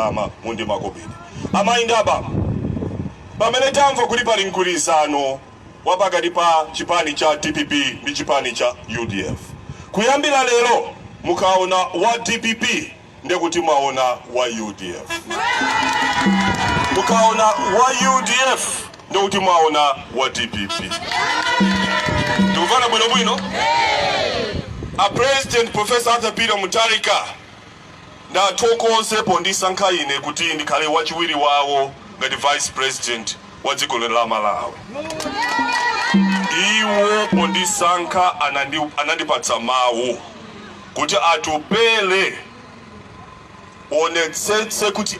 ndalama mu ndi makobidi. Amayi ndi abambo, pamene tamva kuti pali mgwirizano wa pakati pa chipani cha dpp ndi chipani cha udf, kuyambira lero mukaona wa dpp ndiye kuti mwaona wa udf, mukaona wa udf ndiye kuti mwaona wa dpp. Tikumvana bwinobwino? A President Professor Arthur Peter Mutharika Ndathokoze pondisankha ine kuti ndikhale wachiwiri wawo ngati vice president wa dziko lino la Malawi. Iwo pondisankha anandi, anandipatsa mawu kuti atupele uonetsetse kuti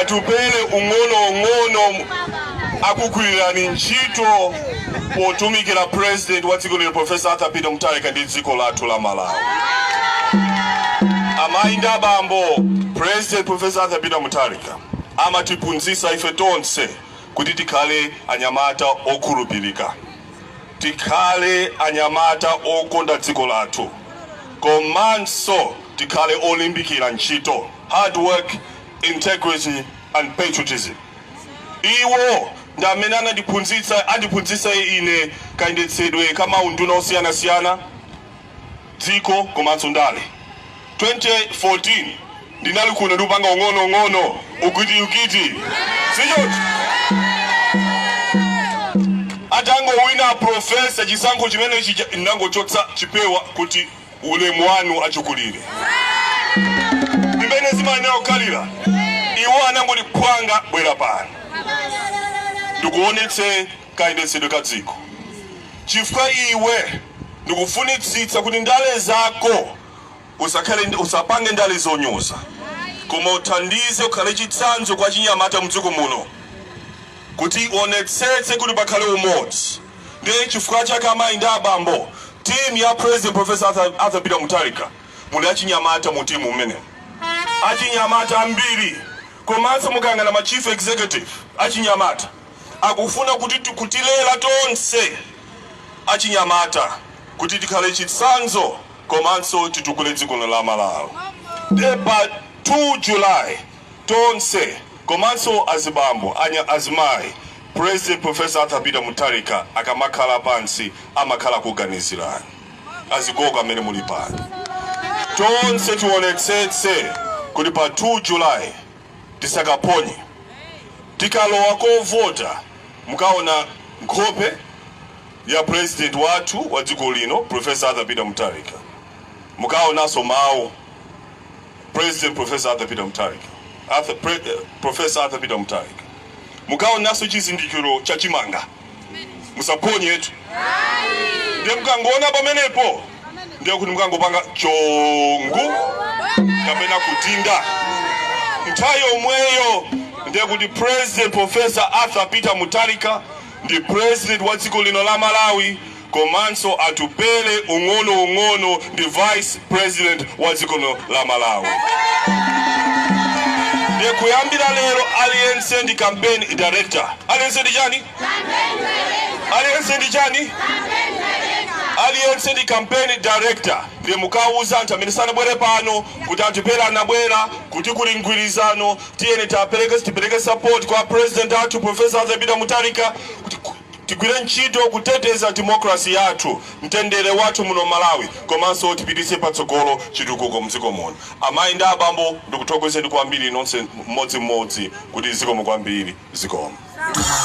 Atupele ung'ono ung'ono akugwirireni ntchito potumikira president wa dziko lino Professor Arthur Peter Mutharika ndi dziko lathu la Malawi. Amai ndi abambo, president Professor Arthur Peter Mutharika amatiphunzitsa ife tonse kuti tikhale anyamata okhulupirika. Tikhale anyamata okonda dziko lathu komanso tikhale olimbikira ntchito, hard work, integrity and patriotism. Iwo ndi amene anandiphunzitsa, andiphunzitsa ine kayendetsedwe ka ma unduna osiyanasiyana. dziko komanso ndale. 2014 ndinali kuno ndikupanga ung'ono ung'ono ukiti ukiti sichoti atangowina a profesa chisankho chimenechi cha- ndinangochotsa chipewa kuti ulemu wanu achikulire ndi mmene zimayenera kukhalira iwo anangoti phwanga bwera pano ndikuonetse kayendetsedwe ka dziko, chifukwa iwe ndikufunitsitsa kuti ndale zako usakhale usapange ndale zonyoza, koma uthandize ukhale chitsanzo kwa achinyamata mdziko muno kuti uonetsetse kuti pakhale umodzi. Ndiye chifukwa chake amayi ndi abambo, timu ya President Professor Arthur Arthur Peter Mutharika muli achinyamata mu timu imene achinyamata ambiri komanso mukayang'ana ma chief executive achinyamata akufuna kuti kutilela tonse achinyamata kuti tikhale chitsanzo komanso titukule dziko lino la Malawi nde pa 2 July tonse komanso azibambo, anya, azimayi President Prof. Arthur Peter Mutharika akamakhala pansi amakhala akuganizilani. Azigogo amene muli pano tonse tionetsetse kuti pa 2 July tisakaphonye tikalowa kovota mukaona nkhope ya president wathu wa dziko lino professor Arthur Peter Mutharika mukaonanso mawu president professor Arthur Peter Mutharika mukaonanso chizindikiro cha chimanga musaphonyetu ndiye mukangoona pamenepo ndiye kuti mukangopanga chongu kapena kudinda nthawi yomweyo ndiye kuti president professor arthur peter mutharika ndi president wa dziko lino la malawi komanso Atupele ung'ono ung'ono ndi vice president wa dziko lino la Malawi ndiye kuyambira lero aliyense ndi campaign director aliyense ndi chani aliyense ndi chani aliyense ndi campaign director ndiye mukawuza anthu amene sanabwere pano kuti Atupele anabwera kuti kuli mgwirizano tiyeni tipereke tipereke support kwa president wathu professor Arthur Peter Mutharika kuti ku- Tigwire ntchito kuteteza democracy yathu, mtendere wathu muno Malawi komanso tipititse patsogolo chitukuko mdziko muno. Amayi ndi abambo ndikuthokozeni kwambiri nonse mmodzimmodzi kuti zikomo kwambiri. Zikomo.